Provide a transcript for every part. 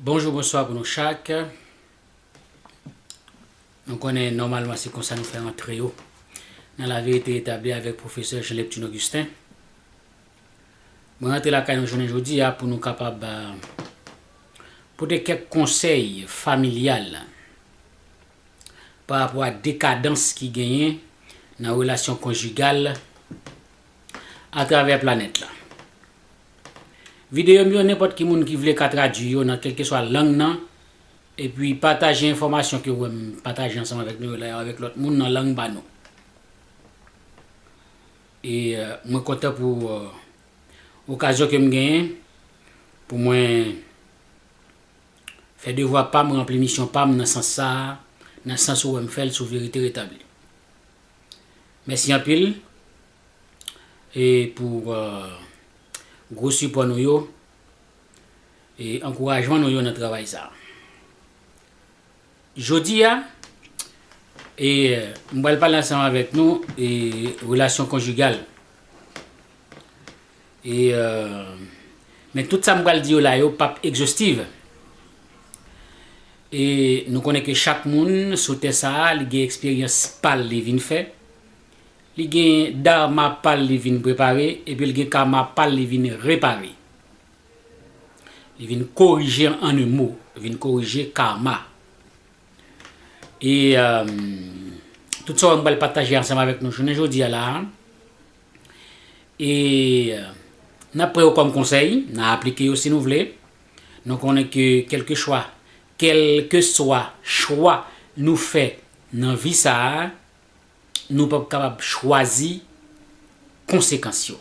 Bonjou bonswa pou nou chak Nou konnen nòmalman se konsa nou fè rantre yo Nan laverite etabli avèk pwofesè Jean Neptune Augustin Mwen rantre lakay nou jounen jodi a pou nou kapab pote kèk konsèy familyal pa rapò ak dekadans ki genyen nan relasyon konjigal atravè planèt la. Videyo m yo nenpòt ki moun ki vle ka tradui yo nan kèlkeswa lang nan epi pataje enfòmasyon ke w wè m pataje ansanm avèk nou yo la yo avèk lòt moun nan lang pa nou. E mwen kontan pou okazyon ke m genyen pou mwen. Fè devwa pa m ranpli misyon pa m nan sans sa a, nan sans ou wè m fè l sou Verite Retabli. Mèsi anpil e pou gwo sipò nou yo e ankourajman nou yo nan travay sa a. Jodi a, e, m pral pale ansanm avèk nou, e, relasyon konjigal. E, e, men tout sa m pral di yo la yo p ap egzostiv. E, nou konnen ke chak moun sou tè sa a li gen eksperyans pa l li vin fè, li gen Dharma pa l li vin prepare, epi l gen Karma pa l li vin repare. Li vin korije an un mot, li vin korije karma. E tout sa mwen pral pataje ansanm avèk nou jounen jodi a la a, e n ap pran yo kòm konsèy, n a aplike yo si nou vle. Nou konnen ke kèlke chwa, kèlke swa chwa nou fè nan vi sa a, nou p ap kapab chwazi konsekans yo.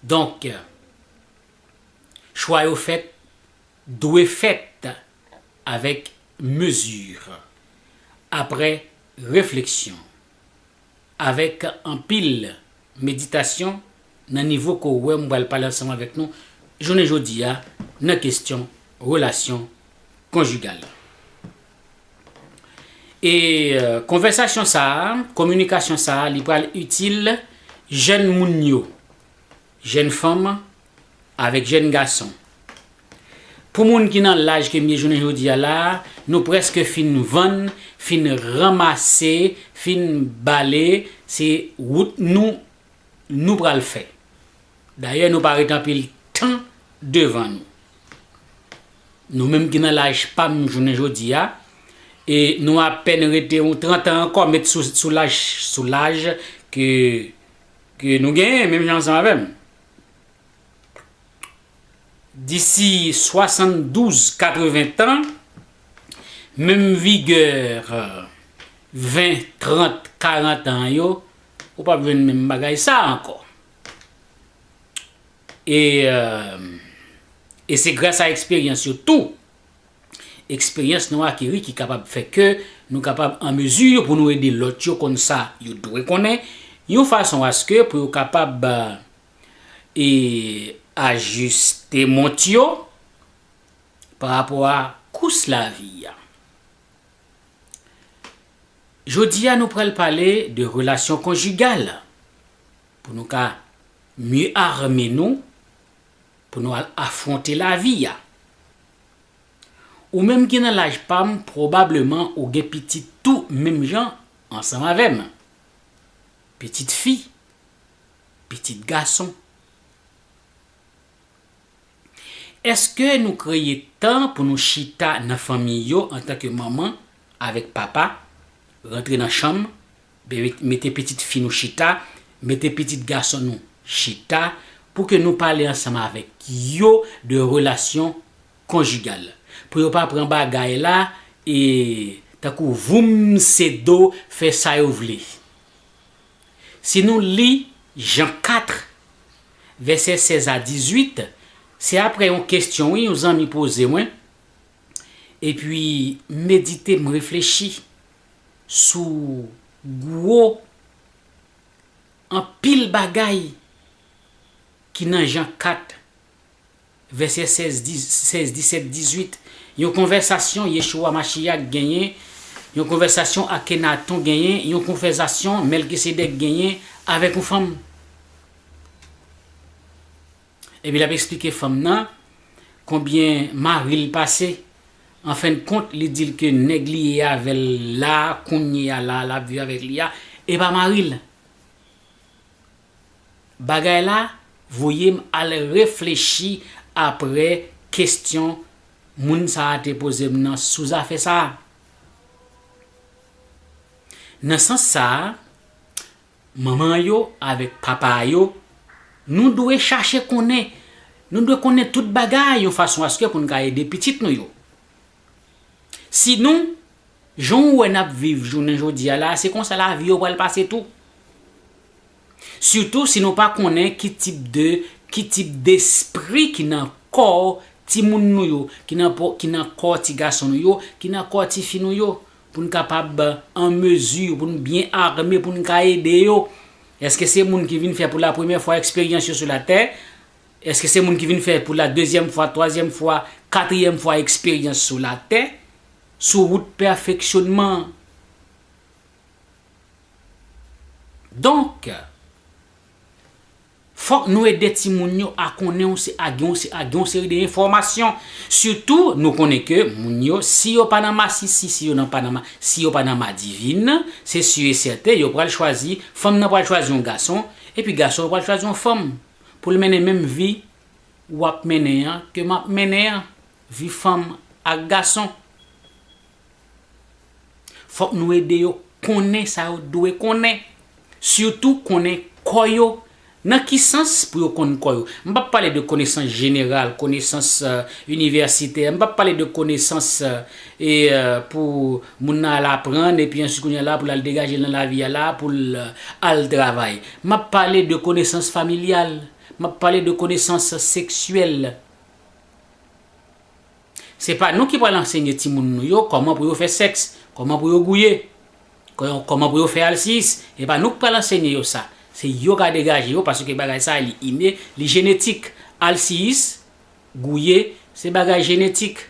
Donk, chwa yo fèt dwe fèt avèk mezi, aprè refleksyon, avèk anpil meditasyon nan nivo ke w wè mwen pral pale ansanm avèk nou jounen jodi a nan kesyon relasyon konjigal. E konvèsasyon sa a, kominikasyon sa a li pral itil jèn moun yo, jèn fanm avèk jèn gason. Pou moun ki nan laj ke m ye jounen jodi a la a, nou prèske fin vann, fin ranmase, fin bale, se wout nou nou pral fè. Dayè nou pa ret anpil tan devan nou. Nou menm ki nan laj pa m jounen jodi a, e nou apèn rete yon 30 an ankò met sou laj sou laj ke ke nou genyen menm jan ansanm avè m. Disi 72, 80 tan, menm vigè 20, 30, 40 an yo, ou p ap jwenn menm bagay sa a ankò. E se gras a eksperyans yo tou, eksperyans nou akeri ki kapab fè ke nou kapab an mezi pou nou ede lòt yo konn sa yo dwe konnen, yon fason aske pou yo kapab ajiste mont yo pa rapò a kous lavi a. Jodi a nou pral pale de relasyon konjigal pou nou ka mye arme nou pou nou al afwonte lavi a. Ou menm ki nan laj pa m pwobableman ou gen pitit tou menm jan ansanm avè m. Pitit fi, pitit gason. Èske nou kreye tan pou nou chita nan fanmi yo antanke manman avèk papa, rantre nan chanm, mete pitit fi nou chita, mete pitit gason nou chita pou ke nou pale ansanm avèk yo de relasyon konjigal? Pou yo pa pran bagay la e tankou voumsedo fè sa yo vle. Si nou li Jan 4, vèsè 16 a 18, se aprè yon kestyon wi yon zanmi poze mwen, epi m medite m reflechi sou gwo anpil bagay ki nan Jan 4. Vèsè 16, 16, 17, 18, Yon konvèsasyon Yeshua HaMashiach genyen Yon konvèsasyon Akenaton genyen Yon konvèsasyon Mèlkisedèk genyen avèk yon fanm Epi l ap esplike fanm nan konbyen mari l pase Anfendkont, li di l ke nèg li ye avè l la a kounyeya la a l ap viv avèk li a e pa mari l. Bagay la voye m al reflechi aprè kesyon moun sa a te poze m nan sou zafè sa a. Nan sans sa a, manman yo avèk papa yo, nou dwe chache konnen, nou dwe konnen tout bagay yon fason aske pou n ka ede pitit nou yo. Sinon, jan ou wè n ap viv jounen jodi a la a, se konsa lavi yo pral pase tou. Sitou si nou pa konnen ki tip de, ki tip despri ki nan kò timoun nou yo, ki nan po, ki nan kò ti gason nou yo, ki nan kò ti fi nou yo, pou n kapab an mezi, pou n byen ame, pou n ka ede yo. Èske se moun ki vin fè pou lapremyè fwa eksperyans yo sou latè? Eske se moun ki vin fè pou la dezyèm fwa, twazyèm fwa, katriyèm fwa eksperyans sou latè, sou wout pèfeksyonman an? Donk, fòk nou ede timoun yo a konnen yon se ak yon se ak yon seri de enfòmasyon. Sitou, nou konnen ke moun yo, si yo pa nan masisi, si yo nan pa nan ma, si yo pa nan madivin, se si e sèten yo pral chwazi, fanm nan pral chwazi yon gason, epi gason yo pral chwazi yon fanm. pou l mennen menm vi w ap mennen an, ke m ap mennen an, vi fanm ak gason. Fòk nou ede yo konnen sa yo dwe konnen, sitou konnen kò yo. Nan ki sans pou yo konn kò yo? M p ap pale de konesans jeneral, konesans inivèsitè, m p ap pale de konesans pou moun nan al aprann epi ansi kounye a la pou l al degaje l nan lavi a la pou l al travay. M ap pale de konesans familyal, m ap pale de konesans seksyèl. Se pa nou ki pral ansenye timoun nou yo kòman pou yo fè sèks, kòman pou yo gouye, kòman pou yo fè alsiyis. E pa nou k pral ansenye yo sa. Se yo k a degaje yo paske bagay sa li ine, li jenetik. Alsiyis, gouye, se bagay jenetik.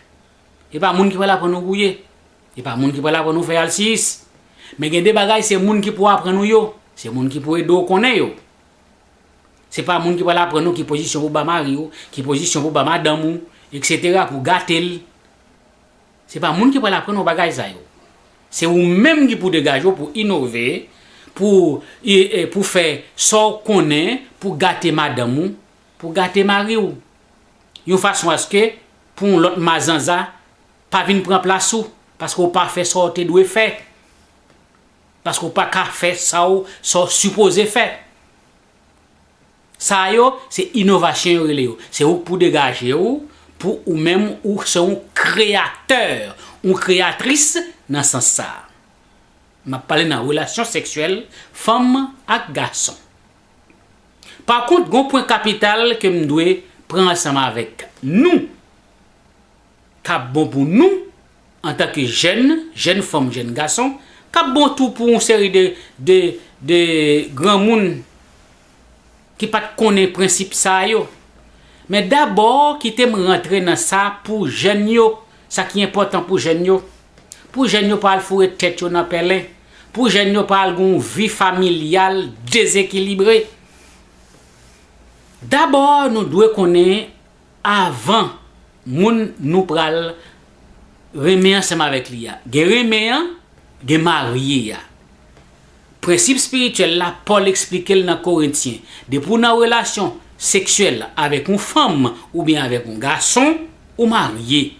E pa moun ki pral aprann ou gouye. E pa moun ki pral aprann ou fè alsiyis. Men gen de bagay se moun ki pou aprann ou yo. Se moun ki pou ede ou konnen yo. Se pa moun ki pral aprann ou ki pozisyon pou ba mari ou, ki pozisyon pou ba madanm ou, eksetera, pou gate l. Se pa moun ki pral aprann ou bagay sa yo. Se ou menm ki pou degaje ou pou inove, pou pou fè sa w konnen pou gate madanm ou, pou gate mari ou. Yon fason aske pou yon lòt mazanza Pa vin pran plas ou paske ou pa fè sa ou te dwe fè. Paske ou pa ka fè sa ou sa ou sipoze fè. Sa yo se inovasyon yo rele yo. Se ou k pou degaje ou pou ou menm ou se yon kreyatè, yon kreyatris nan sans sa. M ap pale nan relasyon seksyèl fanm ak gason. Pakont gen yon pwen kapital ke m dwe pran ansanm avèk nou. Kap bon pou nou antanke jèn, jèn fanm, jèn gason, kap bon tou pou yon seri de de de granmoun ki pat konnen prensip sa yo. Men dabò kite m rantre nan sa pou jèn yo, sa ki enpòtan pou jèn yo. Pou jèn yo pa al foure tèt yo nan pèlen, pou jèn yo pa al gen yon vi familyal dezekilibre. Dabò nou dwe konnen Avan moun nou pral renmen ansanm avèk li a. Gen renmen an, gen marye a. Prensip spirityèl la, Pòl esplike l nan Korentyen, depi w nan relasyon seksyèl avèk yon fanm oubyen avèk yon gason, ou marye.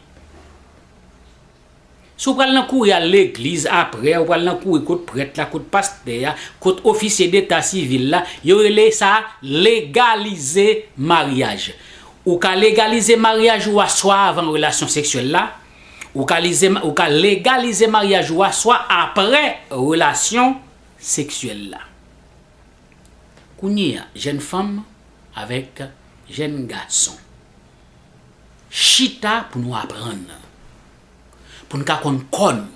Si w pral nan kouri al legliz aprè, ou pral nan kouri kot prèt la, kot pastè a, kot ofisye deta sivil la, yo rele sa legalize maryaj. Ou ka legalize maryaj ou a swa avan relasyon seksyèl la, ou ka lize ou ka legalize maryaj ou a swa aprè relasyon seksyèl la. Kounye a, jèn fanm avèk jèn gason. chita pou nou aprann nan. Pou n ka konn kò nou.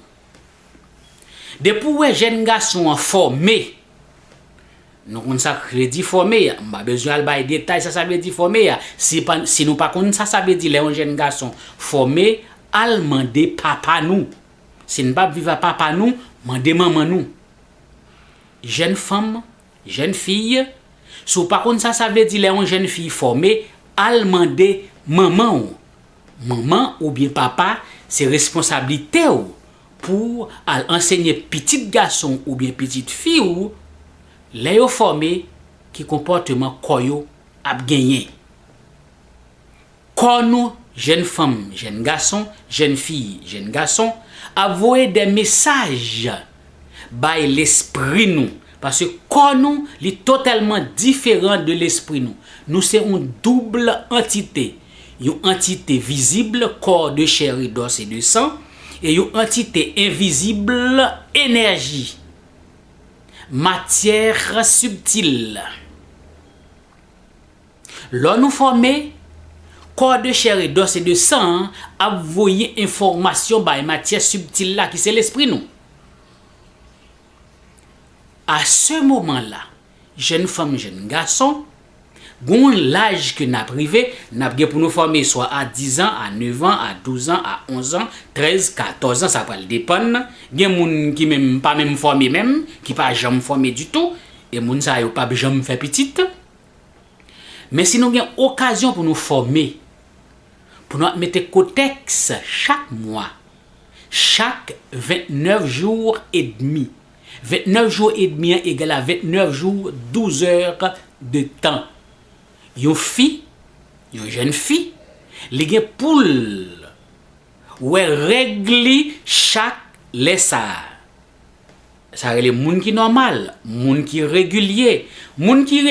Depi ou wè jèn gason an fòme, nou konn sa k vle di fòme a, m pa bezwen al bay detay sa sa vle di fòme a, si pa si nou pa konn sa sa vle di lè yon jèn gason fòme, al mande papa nou. Si n pa p viv a papa nou, mande manman nou. Jèn fanm Jèn fiy, Si w pa konn sa sa vle di lè yon jèn fiy fòme, al mande manman w. Manman oubyen papa se responsablite w pou w al ansenye pitit gason w oubyen pitit fi w, lè yo fòme, ki konpòteman kò yo ap genyen. Kò nou, jèn fanm, jèn gason, jèn fi, jèn gason, ap voye de mesaj bay lespri nou, paske kò nou li totèlman diferan de lespri nou. Nou se yon double antite, yon antite vizib, kò de chè e dòs e de san, e yon antite envizib, enèji, matyè sibtil. Lò nou fòme, kò de chè e dòs e de san an ap voye enfòmasyon bay matyè sibtil la ki se lespri nou. A se moman la, jèn fanm, jèn gason, gen yon laj ke nap rive, nap gen pou nou fòme swa a dizan, a nevan, a douzan, a onzan, trèz, katòzan, sa pral depann, gen moun ki menm pa menm fòme menm, ki pa janm fòme ditou, e moun sa yo pap janm fè pitit. Men si nou gen okazyon pou nou fòme, pou nou ap mete kotèks chak mwa, chak 29 jou e demi, 29 jou e demi an egal a 29 jou 12 zè de tan. Yon fi, yon jèn fi, li gen pou l wè règ li chak lè sa a. Sa rele moun ki nòmal, moun ki regilye. Moun ki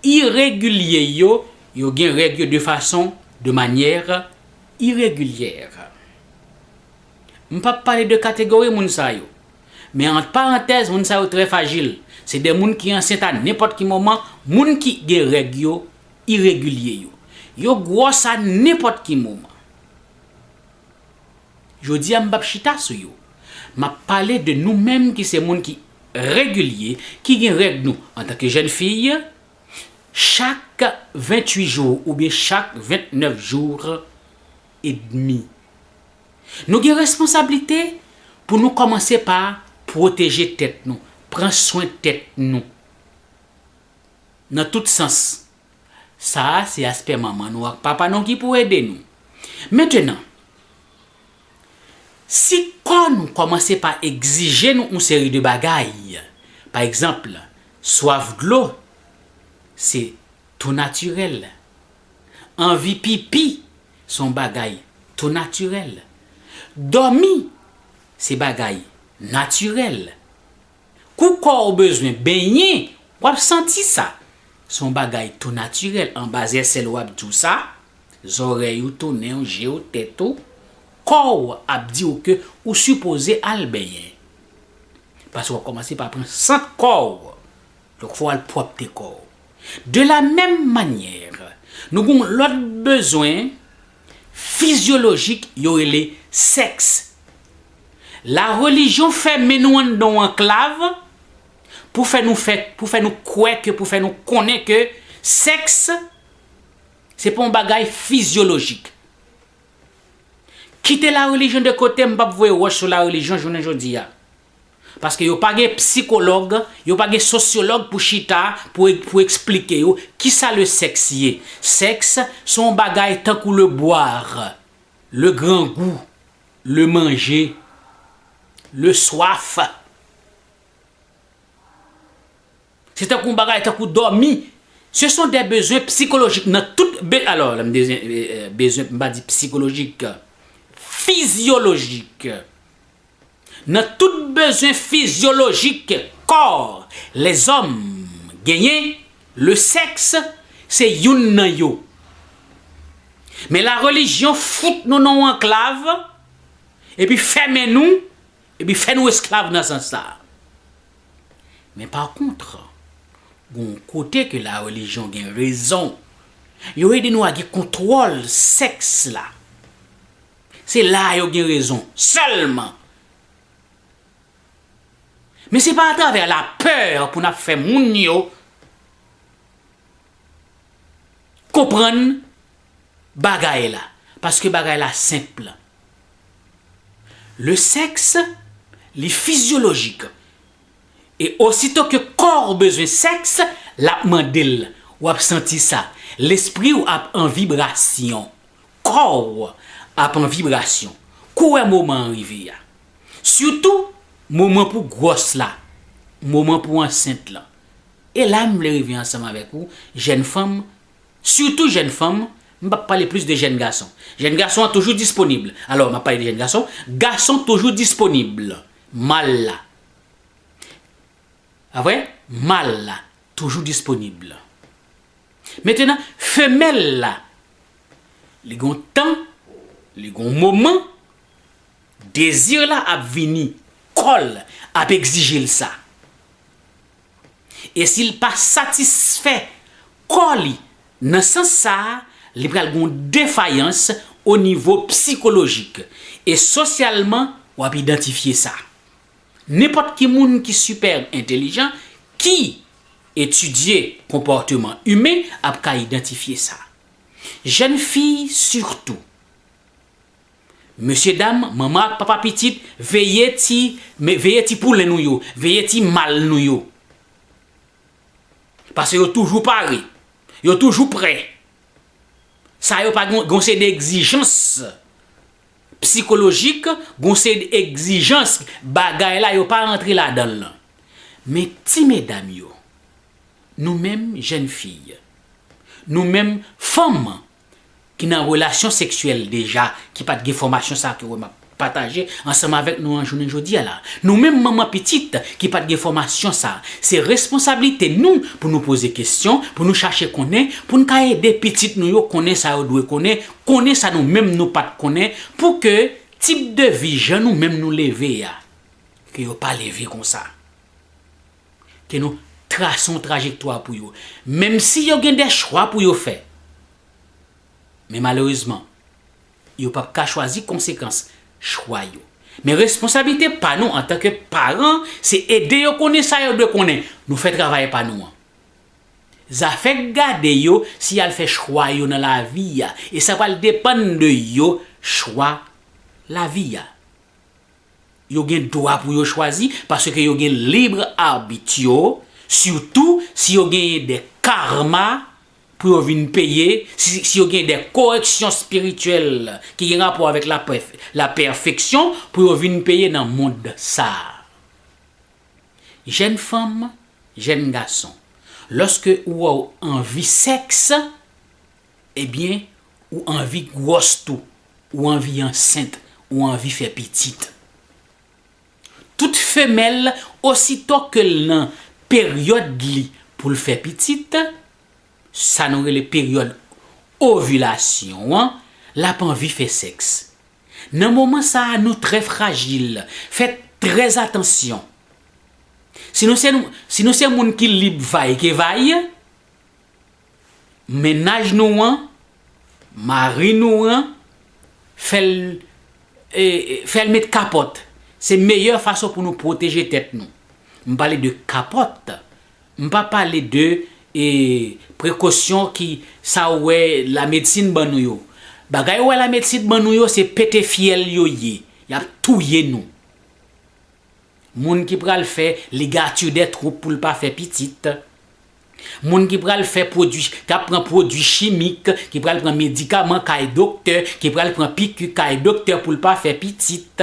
iregilye yo, yo gen règ yo de fason, de manière, irrégulière. M pap pale de kategori moun sa yo. Men ant parantèz moun sa yo trè fajil. Se de moun ki ansent a nenpòt ki moman, moun ki gen règ yo iregilye yo. Yo gwòs a nenpòt ki moman. Jodi a m pap chita sou yo. M ap pale de nou menm ki se moun ki regilye, ki gen règ nou antanke jèn fi, chak 28 jou oubyen chak 29 jou edmi. Nou gen responsablite pou nou kòmanse pa pwoteje tèt nou, pran swen tèt nou nan tout sans. Sa a se aspè manman nou ak papa nou ki pou ede nou. Mentenan, si kò nou kòmanse pa egzije nou yon seri de bagay, pa egzanp, swaf dlo, se tou natirèl. Anvi pipi, se yon bagay tou natirèl. Dòmi, se bagay natirèl. Kou kò w bezwen benyen, w ap santi sa. Se yon bagay tou natirèl, anba zè sèl w ap di w sa, zòrèy ou, tou nen w, je w, tèt ou, kò w ap di w ke ou sipoze al benyen. Paske w ap kòmanse pa pran sant kò w. Donk fò w al pwòpte kò w. De la menm manyè, nou gen yon lòt bezwen fizyolojik yo rele sèks. La relijyon fèmen nou anndan yon anklav pou fè nou fè, pou fè nou kwè ke, pou fè nou konnen ke sèks se pa yon bagay fizyolojik. Kite la relijyon de kote, m pap voye wòch sou la relijyon jounen jodi a. Paske yo pa gen psikològ, yo pa gen sosyològ pou chita pou pou eksplike yo kisa le sèks ye. Sèks se yon bagay tankou le boire, le grangou, le manger, le soif. Se tankou yon bagay tankou dòmi. Se son de bezwen psikolojik nan tout be alò lè m de bezwen m pa di psikolojik, fizyolojik. Nan tout bezwen fizyolojik kò lèzòm genyen, lesèks se youn nan yo. Men larelijyon fout nou nan yon anklav, epi fèmen nou, epi fè nou esklav nan sans sa a. Men pakontre, gen yon kote ke larelijyon gen rezon, yo ede nou a gen kontwòl sèks la. Se la a yo gen rezon sèlman. Men se pa atravè la peur pou nap fè moun yo konprann bagay la. Paske bagay la senp. Le sèks li fizyolojik. E osito ke kò ou bezwen sèks, lap mande l. Wap santi sa. Lespri ou ap an vibrasyon. Kò w ap an vibrasyon. Kou wè moman an rive a. Sitou, moman pou gwòs la, moman pou ansent lan. E la m vle rive ansanm avèk ou, jèn fanm, sitou jèn fanm, m p ap pale plis de jèn gason. Jèn gason an toujou disponib. Alò, m ap pale de jèn gason. Gason toujou disponib. Mal la. A vre? Mal la toujou disponib. Mentenan, femèl la, li gon tan, li gon moman, dezir la ap vini, kò l ap egzije l sa. E si l pa satisfè kò li nan sans sa, li pral gon defayans o nivo psikolojik. E sosyalman, w ap idantifye sa. Nenpòt ki moun ki sipè entelijan, ki etidye konpòteman imen ap ka idantifye sa. Jèn fi sitou. Mesye dam, manman ak papa pitit, veye ti, veye ti poulen nou yo, veye ti mal nou yo. Pase yo toujou pare, yo toujou prè. Sa yo pa gen, gen yon seri de egzijans psikolojik, gon seri de egzijans bagay la yo pa rantre ladanl lan. Men ti medam yo, nou menm jèn fi, nou menm fanm ki nan relasyon seksyèl deja ki pat gen fòmasyon sa ke wè map pataje ansanm avèk nou an jounen jodi a la, nou menm manman pitit ki pat gen fòmasyon sa, se responsablite nou pou nou poze kesyon, pou nou chache konnen, poun ka ede pitit nou yo konnen sa yo dwe konnen Konnen sa nou menm nou pat konnen pou ke tip de vi jan nou menm nou leve a ke yo pa leve konsa. Ke nou trase yon trajektwa pou yo. Menm si yo gen de chwa pou yo fè. Men malerezman, yo pap ka chwazi konsekans chwa yo. Men responsablite pa nou antanke paran se ede yo konnen sa yo dwe konnen. Nou fè travay pa nou an. Zafè k gade yo si y al fè chwa yo nan lavi a e sa pral depann de yo chwa lavi a. Yo gen dwa pou yo chwazi paske yo gen libre arbitre yo sitou si yo genyen de karma pou yo vin peye si yo genyen de koreksyon espirityèl ki gen rapò avèk laperfeksyon pou yo vin peye nan mond sa a. Jèn fanm, jèn gason, lòske ou wè w anvi sèks, ebyen ou anvi gwòs tou, ou anvi ansent, ou anvi fè pitit. Tout femèl osito ke l nan peryòd li pou l fè pitit, sa nou rele peryòd ovilasyon an, l ap anvi fè sèks. Nan moman sa a nou trè frajil, fè trè atansyon. Si nou se si nou se moun ki lib vay ke vay, mennaj nou an, mari nou an, fè l fè l met kapòt. Se meyè fason pou nou pwoteje tèt nou. M pale de kapòt. M pa pale de e prekosyon ki sa ou wè la medsin ban nou yo. Bagay ou wè la medsin ban nou yo se pete fyèl yo ye. Yap touye nou. Moun ki pral fè ligature des troupes pou l pa fè pitit. Moun ki pral fè pwodui, kap pran pwodui chimik, ki pral pran medikaman kay doktè, ki pral pran piku kay doktè pou l pa fè pitit.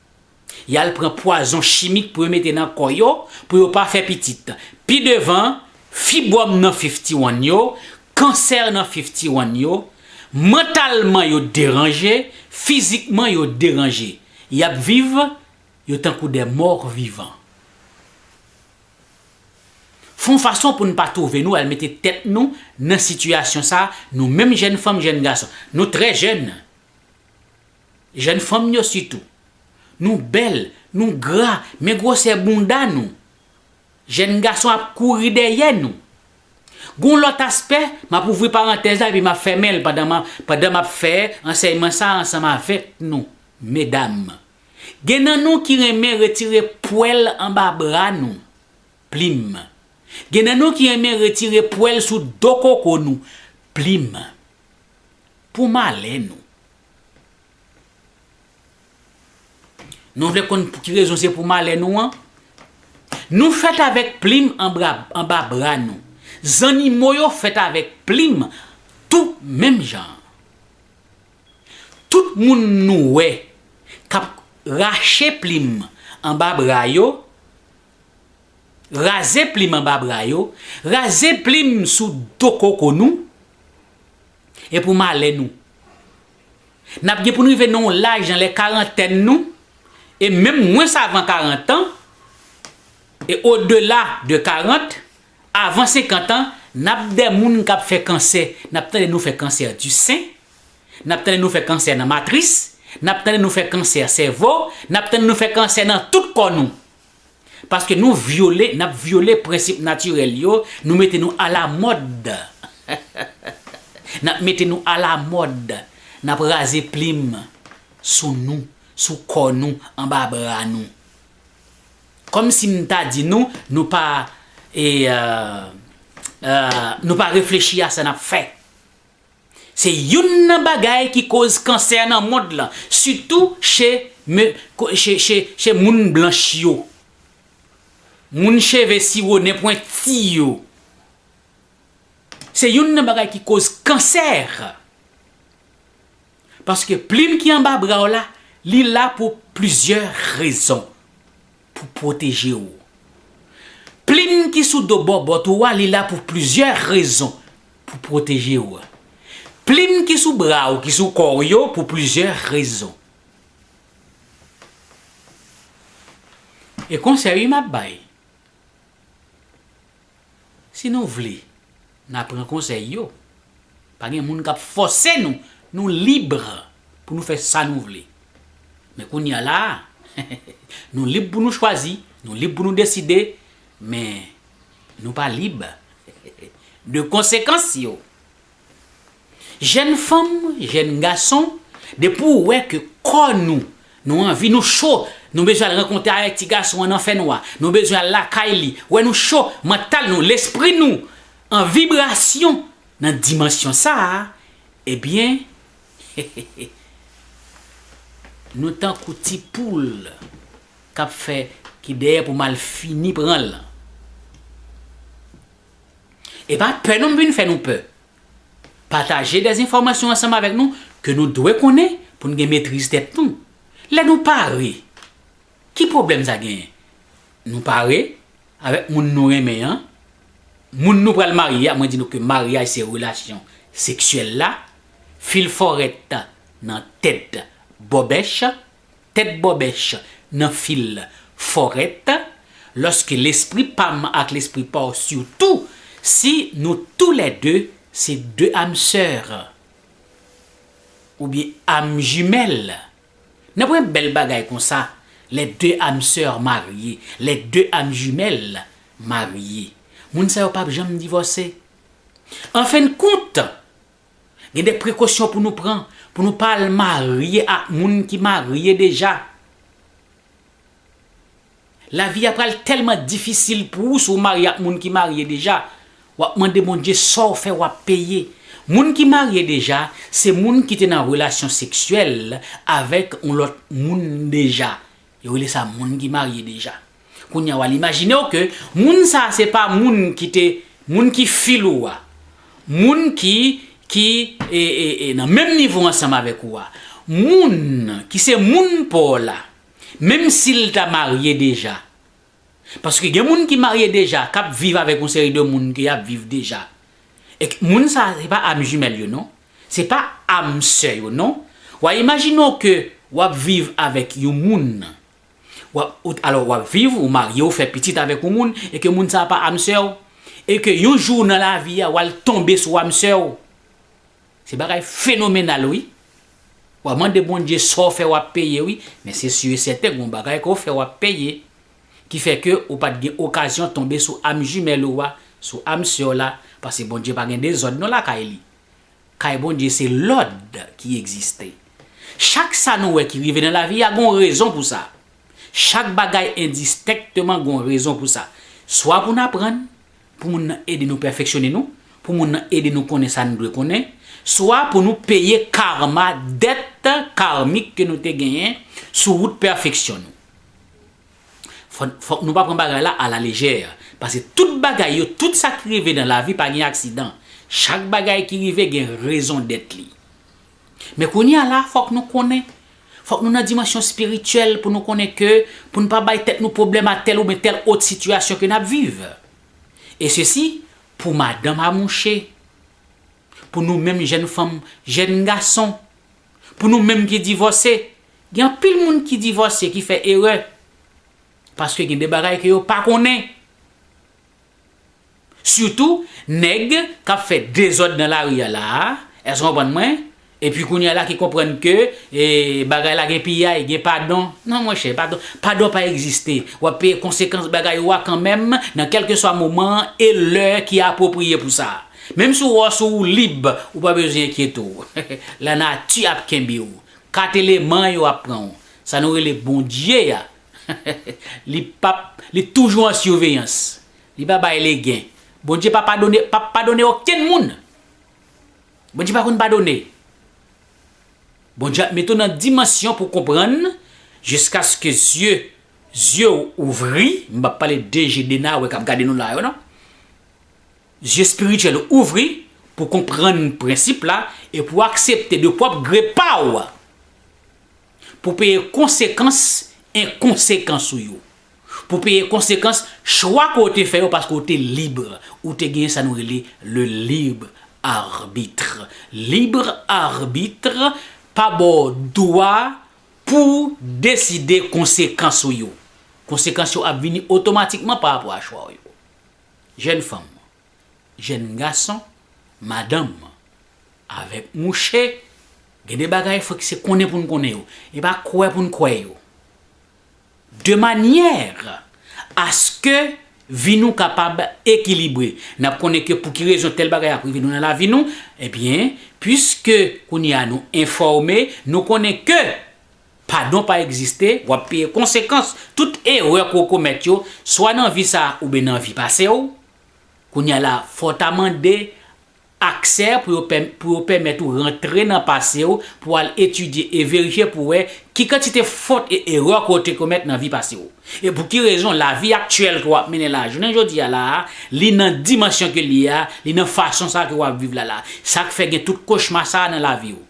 Y al pran pwazon chimik pou yo mete nan kò yo pou yo pa fè pitit. Pi devan, fibwòm nan fiftiwàn yo, kansè nan fiftiwàn yo, mantalman yo deranje, fizikman yo deranje. Y ap viv, yo tankou de mò vivan. Fè yon fason pou n pa twouve nou al mete tèt nou nan sitiyasyon sa a, nou menm jèn fanm, jèn gason. Nou trè jèn. Jèn fanm yo sitou. Nou bèl, nou gra, men gwosè bounda nou. Jèn gason ap kouri dèyè nou. Gon lòt aspè, m ap ouvri parantèz la epi m ap fèmen l pandan m ap pandan m ap fè ansèyman sa a ansanm avèk nou, medam. Gen nan nou ki renmen retire pwèl anba bra nou, plim. Gen nan nou ki renmen retire pwèl sou do koko nou, plim. Pou malè nou. Nou vle konn pou ki rezon se pou malè nou an? Nou fèt avèk plim anba bra nou. Zannimo yo fèt avèk plim tou menm jan an. Tout moun nou wè k ap rache plim anba bra yo, raze plim anba bra yo, raze plim sou do koko nou, E pou malè nou. N ap gen pou n rive nan yon laj nan lè karantèn nou, e menm mwens avan karantan, e odela de karant, avan senkantan, n ap de moun k ap fè kansè, n ap tande nou fè kansè di sen, n ap tande nou fè kansè nan matris, n ap tande nou fè kansè sèvo, n ap tande nou fè kansè nan tout kò nou. Paske nou vyole, nap vyole prensip natirèl yo, nou mete nou alamòd. Nap mete nou alamòd, nap raze plim sou nou, sou kò nou, anba bra nou. Kòm si m ta di nou, nou pa e, nou pa reflechi a sa nap fè. Se youn nan bagay ki koz kansè nan mond lan, sitou che che moun blanch yo. Moun cheve siwo nen pwenti yo. Se youn nan bagay ki koz kansè. Paske plim ki anba bra w la, li la pou plizyè rezon. Pou pwoteje ou. Plim ki sou do bòbòt ou a li la pou plizyè rezon, pou pwoteje ou. Plim ki sou bra ou ki sou kò ou yo pou plizyè rezon. E konsèy wi map bay. Si nou vle, na pran konsèy yo. Pa gen moun kap fòse nou, nou libre pou nou fè sa nou vle. Men kounye a la, nou lib pou nou chwazi, nou lib pou nou deside, men nou pa lib de konsekans yo. Jèn fanm, jèn gason, depi w wè ke kò nou, nou anvi, nou cho, nou bezwen al rankontre avèk ti gason an nan fè nwa, nou bezwen al lakay li, wè nou cho, mantal nou, lespri nou, an vibrasyon nan dimansyon sa a, ebyen, hehehe, nou tankou ti poul k ap fè, ki dèyè pou mal fini pran l lan. Epa pè non m vin fè nou pè. Pataje des enfòmasyon ansanm avèk nou ke nou dwe konnen pou n gen metriz tèt nou. Lè nou pare, ki pwoblèm sa genyen? Nou pare avèk moun nou renmen an, moun nou pral marye a, mwen di nou ke maryaj se relasyon seksyèl la, fil fòret nan tèt bòbèch. Tèt bòbèch nan fil fòrèt Lòske lespri pa m ak lespri pa w Sitou si nou tou lè de se de am sè Oubyen am jimèl Nanpwen bèl bagay konsa Lè de am sè marye Lè de am jimèl marye Moun sa yo pap janm divòse Anfennkont Gen de prekosyon pou nou pran pou nou pa al marye ak moun ki marye deja. Lavi a pral tèlman difisil pou ou si w marye ak moun ki marye deja. W ap mande Bondye sa w fè w ap peye. Moun ki marye deja se moun ki te nan relasyon seksyèl avèk yon lòt moun deja. Yo rele sa moun ki marye deja. Kounya wal imajinew ke moun sa se pa moun ki te moun ki fil ou a, moun ki ki e nan menm nivo ansanm avèk ou a, moun ki se moun paw la, menm sil ta marye deja. Paske gen moun ki marye deja kap viv avèk yon seri de moun ke yap viv deja e moun sa se pa âme jumelle yo non se pa âme sè yo non wa imajine w ke wap viv avèk yon moun wap alò wap viv ou marye ou fè pitit avèk yon moun e ke moun sa pa âme sè w e ke yon jou nan lavi a wal tonbe sou âme sè w. Se bagay fenomenal wi. Wap mande Bondye saw fè wap peye wi, men se su e sèten gon bagay kew fè wap peye. Ki fè ke ou pat gen okazyon tonbe sou âme jumelle ou a, sou âme sè w la, pase Bondye pa gen dezòd non lakay li. Kay Bondye se lòd ki egziste. Chak sa nou wè ki rive nan lavi a gon rezon pou sa. Chak bagay endistèkteman gon rezon pou sa. Swa pou n aprann, pou moun nan ede nou pèfeksyone nou, pou moun nan ede nou konnen sa nou dwe konnen, swa pou nou peye karma, dèt karmik ke nou te genyen sou wout pèfeksyon nou. Fòk nou pa pran bagay la a la lejè, pase tout bagay yo, tout sa ki rive nan lavi pa gen aksidan, chak bagay ki rive gen rezon dèt li. Men kounye a la fòk nou konnen, fòk nou nan dimansyon spirityèl pou nou konnen ke pou n pa bay tèt nou pwoblèm ak tèl oubyen tèl ot sitiyasyon ke n ap viv. E sesi pou madanm a mouche, pou nou menm jèn fanm, jèn gason, pou nou menm ki divòse, gen anpil moun ki divòse ki fè erè paske gen de bagay ke yo pa konnen. Sitou nèg kap fè dezòd nan lari a la a, èske w konprann mwen? Epi kounye a la ki konprann ke bagay la gen piyay, gen padon. Non monchè, padon, padon pa egziste. W ap peye konsekans bagay ou a kanmenm nan kèlkeswa moman an e lè ki apwopriye pou sa. Menm si w wè w sou wou lib, ou pa bezwen enkyete w. Lanati ap kenbe w. Kat eleman yo ap pran w. Sa nou rele Bondye a Li pap Li toujou an surveillance. Li pa bay legen. Bondye pa padone pap padone okenn moun. Bondye pa konn padone. Bondye ap mete w nan dimansyon pou w konprann jiskaske zye zye w ouvri, m pap pale de je Dena wè kap gade nou la yo non. Zye spirityèl ou ouvri pou w konprann prensip la e pou w aksepte de pwòp gre pa w. Pou peye konsekans enkonsekans ou yo. Pou peye konsekans chwa ke w te fè yo paske w te libre. Ou te genyen sa nou rele le libre arbitre. Libre arbitre pa ba w dwa pou w deside konsekans ou yo. Konsekans yo ap vini otomatikman pa rapò a chwa w yo. Jèn fanm, Jèn gason, madanm, avèk mouche, gen de bagay fòk se konnen pou n konnen yo, e pa kwè pou n kwè yo. De manyè aske vi nou kapab ekilibre. N ap konnen ke pou ki rezon tèl bagay ap rive nou nan lavi nou, ebyen, piske kounye a nou enfòme, nou konnen ke padon pa egziste, w ap peye konsekans tout erè ke w komèt yo, swa nan vi sa a oubyen nan vi pase w, Kounya la fò w ta mande aksè pou yo pou yo pèmèt ou rantre nan pase w pou al etidye e verifye pou wè ki kantite fot e erè ke w te komèt nan vi pase w. E pou ki rezon lavi aktyèl ke w ap mennen la jounen jodi a la a, li nan dimansyon ke l ye a, li nan fason sa ke w ap viv la la. Sa k fè gen tout kochma sa a nan lavi w.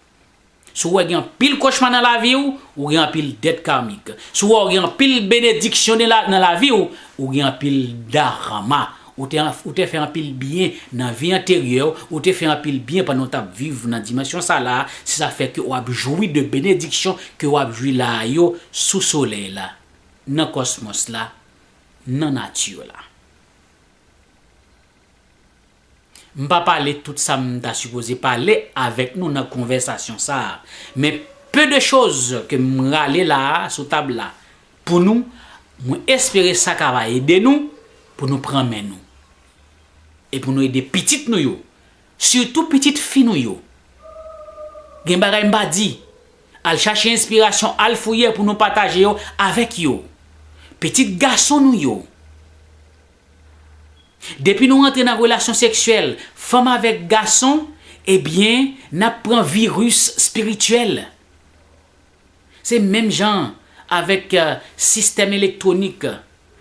Si w wè gen anpil kochma nan lavi w, ou gen anpil dèt karmik. Si w wè ou gen anpil benediksyon nan lavi w, ou gen anpil dharma. Ou te fè anpil byen nan vi anteryè w, ou te fè anpil byen pandan w t ap viv nan dimansyon sa la a, se sa k fè ke w ap jwi de benediksyon ke w ap jwi la a yo sou solèy la, nan kòsmòs la, nan nati la. M pa pale tout sa m ta sipoze pale avèk nou nan konvèsasyon sa a, men peu de chose ke m rale la a sou tab la pou nou, mwen espere sa ka va ede nou pou nou pran men nou e pou nou ede pitit nou yo, sitou pitit fi nou yo. Gen bagay m pa di, al chache enspirasyon, al fouye pou nou pataje yo avèk yo. Pitit gason nou yo, Depi nou rantre nan relasyon seksyèl fanm avèk gason ebyen nap pran virus spirityèl. Se menm jan avèk sistèm elektwonik,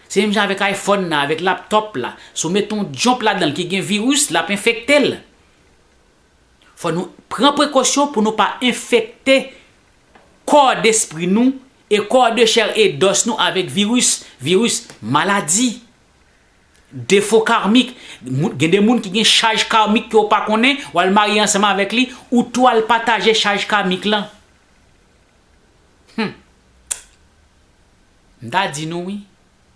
se menm jan avèk iPhone nan, avèk laptop la, si w met yon jump ladanl ki gen virus lap enfektel. Fò nou pran prekosyon pou nou pa enfekte kò despri nou e kò de chè e dòs nou avèk viris, viris, maladi, defo karmik, gen de moun ki gen chaj karmik ke ou pa konnen, ou al marye ansanm avèk li, ou tou al pataje chaj kamik lan. Hum! M ta di nou wi.